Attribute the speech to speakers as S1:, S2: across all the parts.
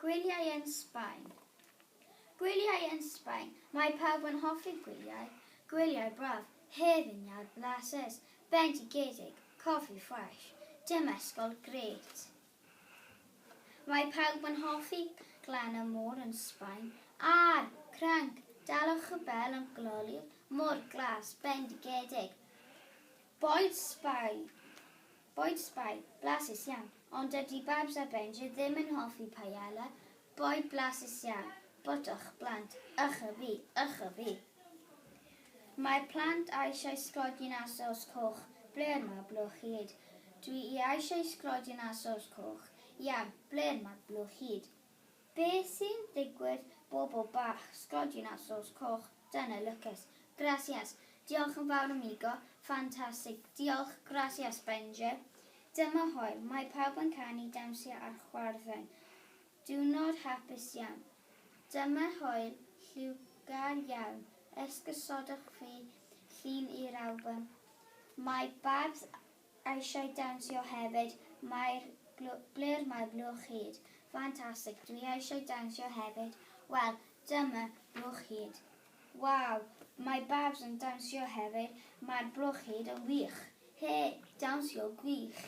S1: Gwyliau yn Sbaen Gwyliau yn Sbaen Mae pawb yn hoffi gwyliau, gwyliau braf, hefin iâr, blasus, bendigedig, coffi ffresh, demesgol grêt. Mae pawb yn hoffi glan y môr yn Sbaen, a'r, crync, dalwch y bel yn gloli'r môr glas, bendigedig. Boed Sbaen Boed Sbaen, blasus iawn. Ond dydy Babs a Benji ddim yn hoffi paella, boed blasus iawn. Botwch, blant. Ych a fi, ych a fi. Mae'r plant eisiau sglodion a saws coch. Ble'r ma blwch hyd? Dw i eisiau sglodion a saws coch. Iawn, ble'r ma blwch hyd? Be sy'n digwydd bobl bach, sglodion a sos coch, dyna lwcus. Gracias. Diolch yn fawr amigo. Ffantastig. Diolch. Gracias Benji. Dyma Hoel. Mae pawb yn canu, dawnsio a chwarddo'n diwrnod hapus iawn. Dyma Hoel lliwgar iawn. Esgusodwch fi llun i'r albwm. Mae barbs Eisiau dawnsio hefyd mae'r blur mae blwch hud fantastic dwi eisiau dawnsio hefyd wel dyma blwch hud waw mae babs yn dawnsio hefyd mae'r blwch hud yn wych he dawnsio gwych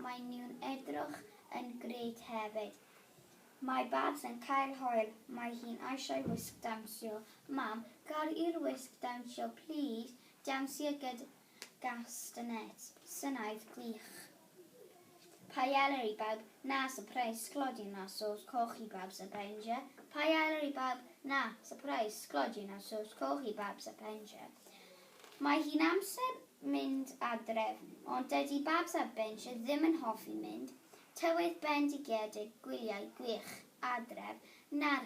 S1: mae nhw'n edrych yn grêt hefyd mae babs yn cael hwyl mae hi'n eisiau wisg dawnsio mam car i'r wisg dawnsio plîs dawnsio gyda Castanet, Syniad gwych. Paella i bawb, na sypreis, sglodion a sôs coch i bawb sa paella, Paella i bawb, na sypreis, sglodion a sôs coch i bawb sa paella. Mae hi'n amser mynd adref, ond dydy bawb sa paella ddim yn hoffi mynd. Tywydd bendigedig, gwyliau gwych, adref, na'r